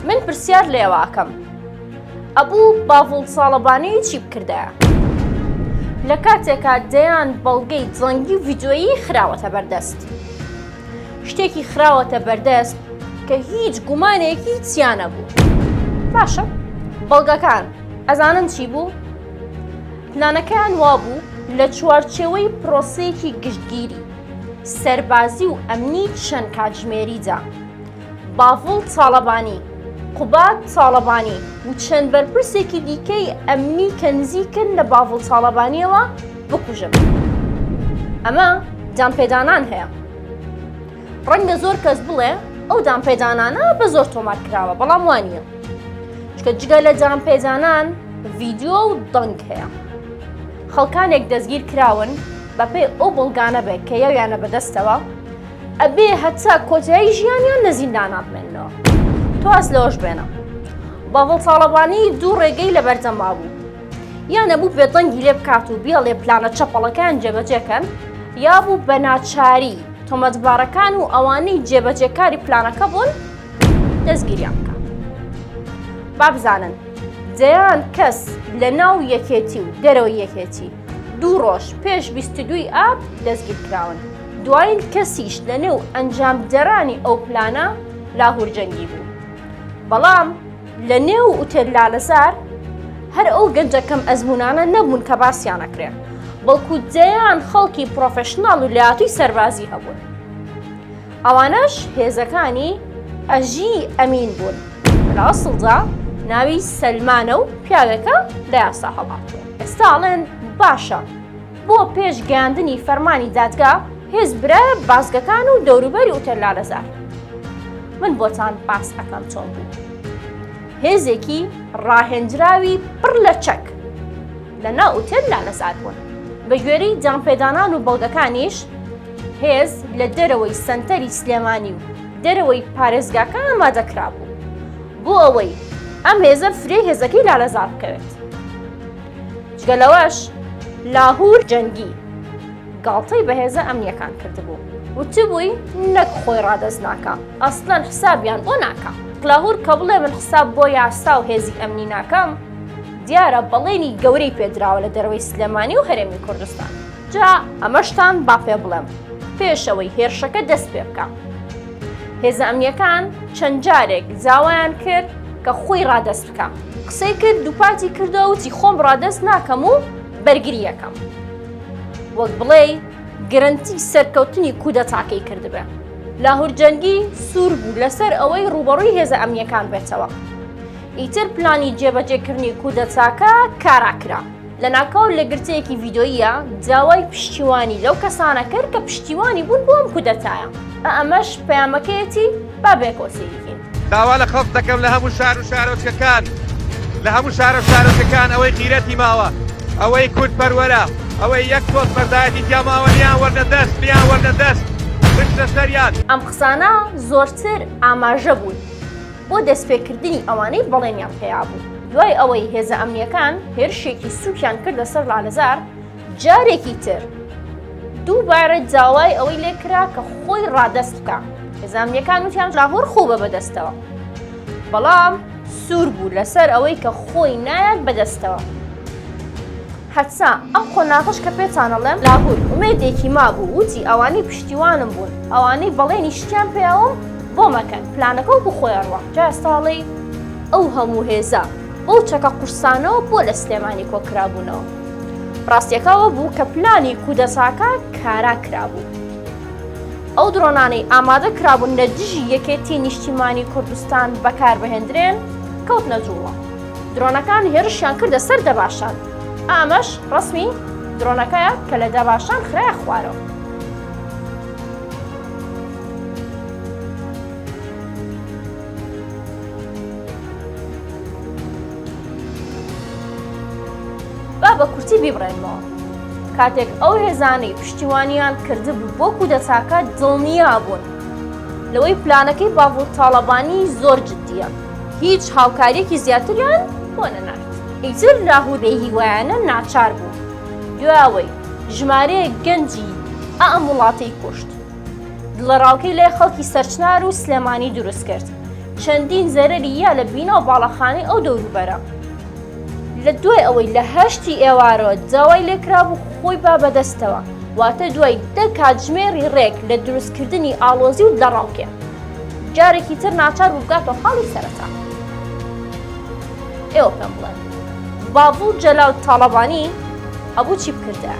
من پرسیار لە ئێوە ئەکەم ئەبوو باڤڵ ساڵەبانی چی بکردایە لە کاتێکا دەیان بەڵگەی جەنگی و ڤیدۆیی خراوەتە بەردەست شتێکی خراوەتە بەردەست کە هیچ گومانێکی چیانە بوو باشە بەڵگەکان ئەزانن چی بوو پلانەکەیان وابوو لە چوارچێوەی پرۆسەیەکی گشتگیری سەربازی و ئەمنی چەند کاتژمێریدا باڤڵ تاڵەبانی، قوباد تاڵەبانی و چەند بەرپرسێکی دیکەی ئەمنی کە نزیکن لە باڤڵ تاڵەبانییەوە بکوژن. ئەمە دانپێدانان هەیە. ڕەنگە زۆر کەس بڵێ ئەو دانپێدانانە بە زۆر تۆمار کراوە بەڵام وانە. چکە جگە لە دانپێدانان ڤیددیو و دەنگ هەیە. خەڵکانێک دەستگیر کراون بەپێی ئەو بەڵگانە بێت کە یاویانە بەدەستەوە ئەبێ هەتا کۆتایی ژیانیان لە زیندانا بمێنەوە تۆ ئاس لەوەش بێنە باڤڵ تاڵەبانی دوو ڕێگەی لە بەردەما بوو یان نەبوو بێدەنگی لێ بکات و بێڵێ پلانە چەپەڵەکان جێبەجێکەن یا بوو بە ناچاری تۆمەتبارەکان و ئەوانەی جێبەجێکاری پلانەکە بوون دەستگیریان بکە بابزانن دەیان کەس لە ناو یەکێتی و دەرەوە یەکێتی دوو ڕۆژ پێش 22 ئاب دەستگیر کراون. دوایین کەسیش لە نێو ئەنجامدەرانی ئەو پلانە لاهور جەنگی بوو بەڵام لە نێو ئوتێل لالەزار هەر ئەو گەنجە کەم ئەزمونانە نەبوون کە باسییانەکرێ بەڵکو دەیان خەڵکی پرۆفشنناڵ و لاتوی سەربازی هەبوون ئەوانەش هێزەکانی ئەژی ئەمین بوون لە ئەسڵدا ناوی سەلمانە و پیاوێکە لە یاسا هەڵاتوە ئێستاڵێن باشە بۆ پێش گەیاندنی فەرمانی دادگا هێز برە بازگەکان و دەوروبەری ئوتەر لالەزار من بۆتان باس ئەەکەم چۆن بوو هێزێکی ڕاهێنجراوی پڕ لە چەک لە ناو ئوتەر لالەزار بوون بە گوێری جامپێدانان و بەڵگەکانیش هێز لە دەرەوەی سنتەری سلێمانی و دەرەوەی پارێزگاکە ئامادەکرابوو بۆ ئەوەی ئەم هێزە فرێ هێزەکەی لالەزار بکەوێت جگە لەوەش لاهور جەنگی گاڵتەی بەهێزە ئەمنیەکان کردبوو وتبووی نەک خۆی ڕادەست ناکە ئەسلەن حسابیان بۆ ناکە لاهور کە بڵێ من حساب بۆ یاسا و هێزی ئەمنی ناکەم دیارە بەڵێنی گەورەی پێدراوە لە دەروەی سلێمانی و هەرێمی کوردستان جا ئەمەشتان با پێ بڵێم پێشەوەی هێرشەکە دەست پێ بکە هێزە ئەمنیەکان چەند جارێک زاوایان کرد کە خۆی ڕادەست کەم قسەی کرد دووپاتی کردەوە وتی خۆم ڕادەست ناکەم و بەرگری یەکەم وەک بڵێ گرنتی سەرکەوتنی کودەتاکەی کردبێ لاهور جەنگی سوور بوو لەسەر ئەوەی ڕوبەڕووی هێزە ئەمنیەکان بێتەوە ئیتر پلانی جێبەجێکردنی کودەتاکە کاراکرا لە ناکاو لە گرتەیەکی ڤیدۆیە داوای پشتیوانی لەو کەسانە کرد کە پشتیوانی بوون بۆم کودەتایە ئەمەش پەیامەکەیەتی بابێکۆسیین داوا لە خەڵک دەکەم لە هەموو شار و شارۆچکەکان لە هەموو شارە و شارۆچکەکان ئەوەی غیرەتی ماوە ئەوەی کورد پەروەرە ئەوەی یەک پۆست بەردایەتی تیاماوە لیان وەرنە دەست لیان وەرنە دەست بشتە سەریان ئەم قسانە زۆرتر ئاماژە بوون بۆ دەستپێکردنی ئەوانەی بەڵێنیان پێیابوو دوای ئەوەی هێزە ئەمنیەکان هێرشێکی سوکیان کردە سەر لالەزار جارێکی تر دووبارە داوای ئەوەی لێکرا کە خۆی ڕادەست بکە زانیەکان وتیان لاهۆر خۆ بە بەدەستەوە بەڵام سوور بوو لەسەر ئەوەی کە خۆی نایەت بەدەستەوە هەتسا ئەم قۆناغش کە پێچانەڵێم لاهور ئومێدێکی مابوو وتی ئەوانەی پشتیوانم بوون ئەوانەی بەڵێنی شتیان پێیاوم بۆ مەکەن پلانەکە و بخۆیانڕوە جا ساڵی ئەو هەموو هێزە بەو چەکە قورسانەوە بۆ لە سلێمانی کۆکرابوونەوە ڕاستیەکەەوە بوو کە پلانی کودەساکە کارا کرابوو ئەو درۆنانەی ئامادە کرابوون لە دژی یەکێتی نیشتیمانی کوردستان بەکاربهێندرێن کەوت نەجووڵە درۆنەکان هێرشیان کردە سەر دەباشان ئامەش ڕسمی درۆنەکەیە کە لە دەباشان خراە خوارەوە با بە کورتی بیبڕێنمەوە. کاتێک ئەو هێزانەی پشتیوانیان کردبوو بۆ کودەتاکە دڵنیا بوون لەوەی پلانەکەی باڤڵ تاڵەبانی زۆر جددیە، هیچ هاوکاریەکی زیاتریان بۆ نەنارد. ئیتر لاهور بێهیوایانە ناچار بوو دوای ئەوەی ژمارەیەک گەنجی ئام وڵاتەی کوشت، دڵەڕاوکەی لای خەڵکی سەرچنار و سلێمانی دروست کرد چەندین زەرری یا لە بینا و باڵەخانەی ئەو دەوروبەرە لە دوای ئەوەی لە هەشتی ئێوارەوە داوای لێکرابوو خۆی با بەدەستەوە واتە دوای دە کاتژمێری ڕێک لە دروستکردنی ئاڵۆزی و دەڕاوکێ جارێکی تر ناچار بوو بگاتەوە خاڵی سەرەتا ئێوە پێم بڵێن باڤڵ جەلال تاڵەبانی هەبوو چی بکردایە؟